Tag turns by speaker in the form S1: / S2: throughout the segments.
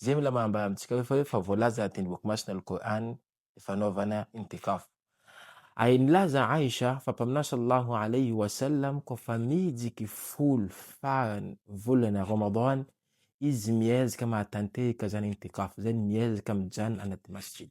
S1: Izay mila manambara amintsika hoe fa hoe fa voalaza anaty ny boky masina Al-Qur'an ny fanaovana intikaf. Ary nilaza Aisha fa Mpaminany sallallahu alayhi wa sallam koa fa mihijiky folo farany volana Ramadan izy miezaka mahatanteraka izany intikaf izany, miezaka mijanona anaty masjid.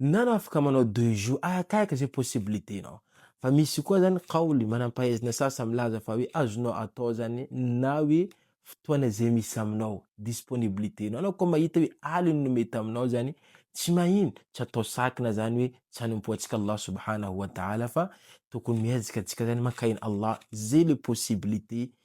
S1: Nana afaka manao deux jours arakaraky izay possibilité nao fa misy koa zany kaoly manampahaizina sasa milaza fa hoe azonao atao zany na hoe fotoana izay misy aminao disponibilité nao anao koa mahita hoe aliny no mety aminao zany tsy mahino tsy atao sakina zany hoe tsy hanompoantsika Allah subhanahu wa ta'ala fa tokony miezaka antsika zany mankaina Allah zay le possibilité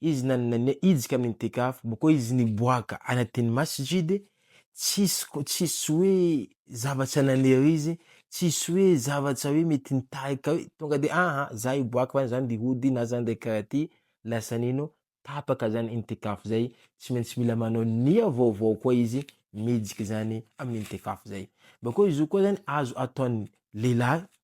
S1: Izy na nania hijika amin'ny itikaf, boko izy niboaka anaty ny masjid, tsisy ko, tsisy hoe zavatra nanery izy, tsisy hoe zavatra hoe mety nitarika hoe tonga de aha za hiboaka fa zany de hody na zany de karaha ty, lasa nino, tapaka zany intikaf zay, tsy maintsy mila manao nia vaovao koa izy mijika zany amin'ny intikaf zay. Bakeo izy io koa zany azo ataon'ny lehilahy